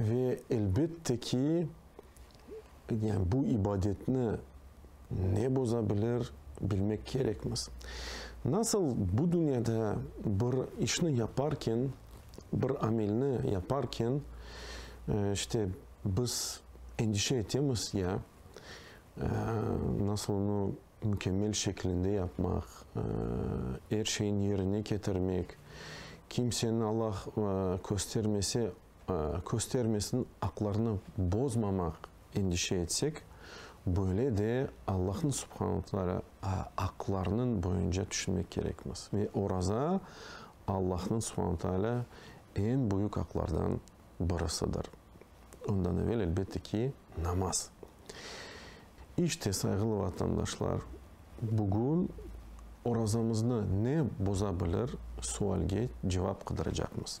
Ve elbette ki, yani bu ibadetni ne bozabilir, bilmek kerekmiz. Nasıl bu dünyada bir işni yaparken, bir amelni yaparken, işte, biz endişe etemiz ya, nasıl onu mükemmel şekilinde yapmaq, er şeyni yerine ketirmek, kimseni, Allah köstermese, köstermesin, aqlarını bozmamaq endişe etsek, böyle de Allahnıñ subhanaltara aqlarınıñ boyunca tüşünmek kerekmiz. Ve oraza Allahnıñ subhanaltala eñ büyük aqlardan birisidir. Ondan evel, elbette ki, namaz. İşte, sayğılı vatandaşlar, bugün orazamıznı ne boza bilir sualge cevap qıdıracaqmız.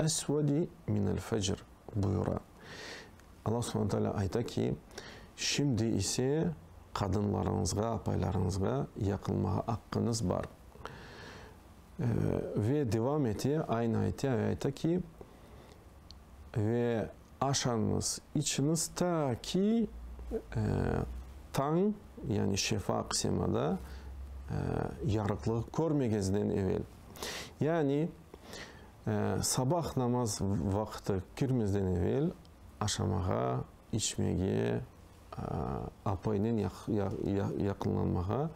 Esvedi minel fecr buyura. Alla subhane taalâ ayta ki, Şimdi ise qadınlarıñızğa, apaylarıñızğa yaqınmağa aqqıñız bar. Ve devam ete, aynı ayete ve ayta ki, Ve aşañız, içiñiz ta ki tañ, yani şefaq semada yarıqlığı körmeñizden evel. Yani, sabah namaz vaqtı kirmezden evel aşamağa, içmege, apaynen yaqınlanmağa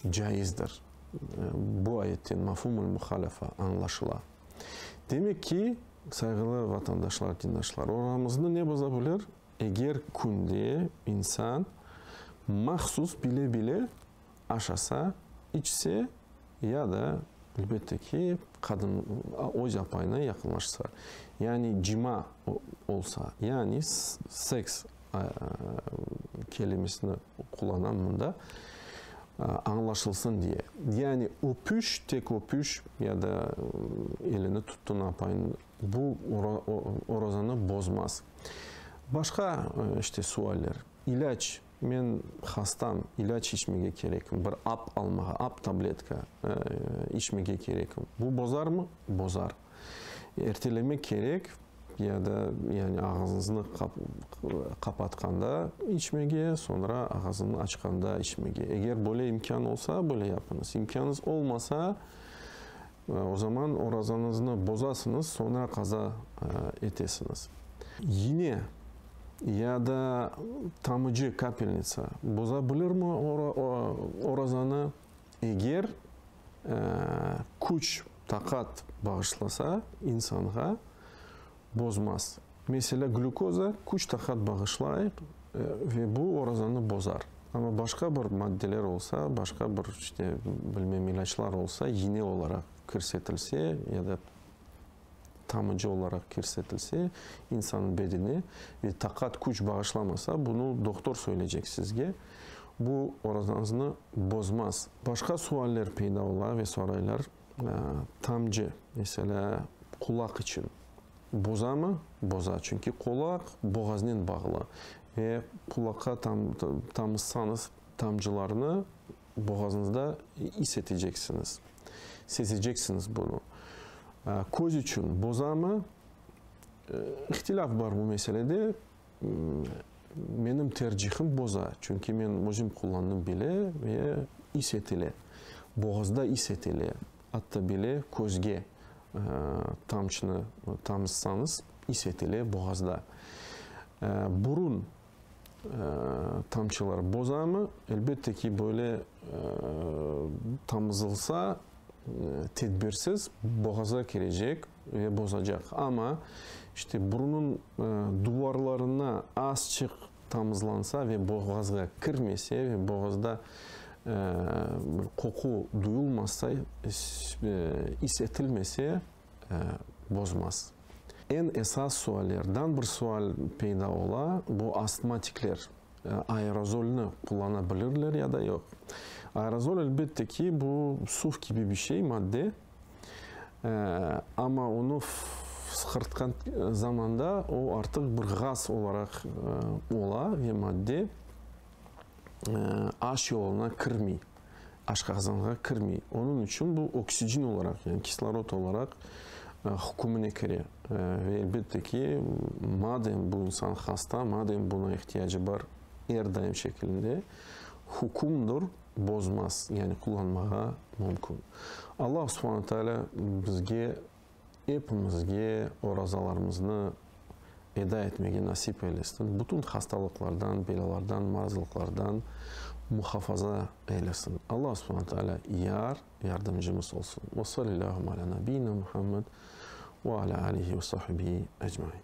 caizdir. Bu ayetten mafumul muhalafa añlaşıla. Demek ki, sayğılı vatandaşlar, dindaşlar, oramıznı ne boza bilir? Eger künde insan mahsus bile-bile Aşasa, içse ya da, elbette ki, qadın öz apayına yaqınlaşsa, yani cima olsa, yani seks kelimesini qullanam mında, añlaşılsın diye. Yani öpüş, tek öpüş ya da elini tuttun apayınıñ, bu orazanı bozmaz. Başqa işte sualler, ilâc. Men hastam, ilâc içmege kerekim, bir ap almağa, ap, tabletka, içmege kerekim. Bu bozarmı? Bozar. Ertelemek kerek, ya da, yani, ağızıñıznı qapatqanda içmege, soñra ağızıñnı açqanda içmege. Eger böyle imkân olsa, böyle yapıñız. İmkânıñız olmasa, O zaman orazanıznı bozasıñız, soñra qaza etesiñiz. İne ya da tamıcı, kapelnitsa, boza bilirmi orazanı? Eger küç, taqat bağışlasa insanğa, Bozmaz. Meselâ, glükoza küç taqat bağışlay ve bu orazanı bozar. Amma başqa bir maddeler olsa, başqa bir, işte, bilmem, ilâclar olsa, iğne olaraq kirsetilse ya da tamıcı olaraq kirsetilse insannıñ bedene ve taqat, küç bağışlamasa, bunı doktor söyleycek sizge, bu orazanıznı bozmaz. Başqa sualler peyda ola ve soraylar. Tamcı, meselâ, qulaq içün bozamı? Boza, çünki qulaq boğaznen bağlı ve qulaqqa tamızsañız tamcılarnı boğazıñızda is eteceksiñiz, sezeceksiñiz bunı. Köz içün bozamı? İhtilâf bar bu meselede. Menim tercihim boza, çünki men özüm qullandım bile ve is etile, boğazda is etile, atta bile közge tamçnı tamızsanız is etile boğazda. Burun tamçılar bozamı? Elbette ki, böyle tamızılsa tedbirsiz boğaza kirecek. Ve bozacaq. Amma, işte, burunıñ duvarlarına azçıq tamızlansa ve boğazğa kirmese ve boğazda bir qoqu duyulmasa, is etilmese, bozmaz. Eñ esas suallerdan bir sual peyda ola, bu astmatikler aerozolni qullanabilirler ya da yoq? Aerozol, elbette ki, bu suv kibi bir şey, madde. Amma onı fısqırtqan zamanda o artıq bir ğaz olaraq ola ve madde aş yoluna kirmey, aşqazanğa kirmey. Onıñ içün bu oksigin olaraq, yani kislorod olaraq hükümine kire. Ve elbette ki, madem bu insan hasta, madem buna ihtiyacı bar er daim şekilinde, hükümdir, bozmaz, yani qullanmağa mümkün. Allah Subhane Teala bizge epimizge orazalarımıznı eda etmege nasip eylesin, bütün hastalıqlardan, belalardan, marazlıqlardan muhafaza eylesin. Allah Subhane Teala yar, yardımcımız olsun. Ve sallallahu ala nabiyina Muhammed ve ala alihi ve sahbihi ecmain.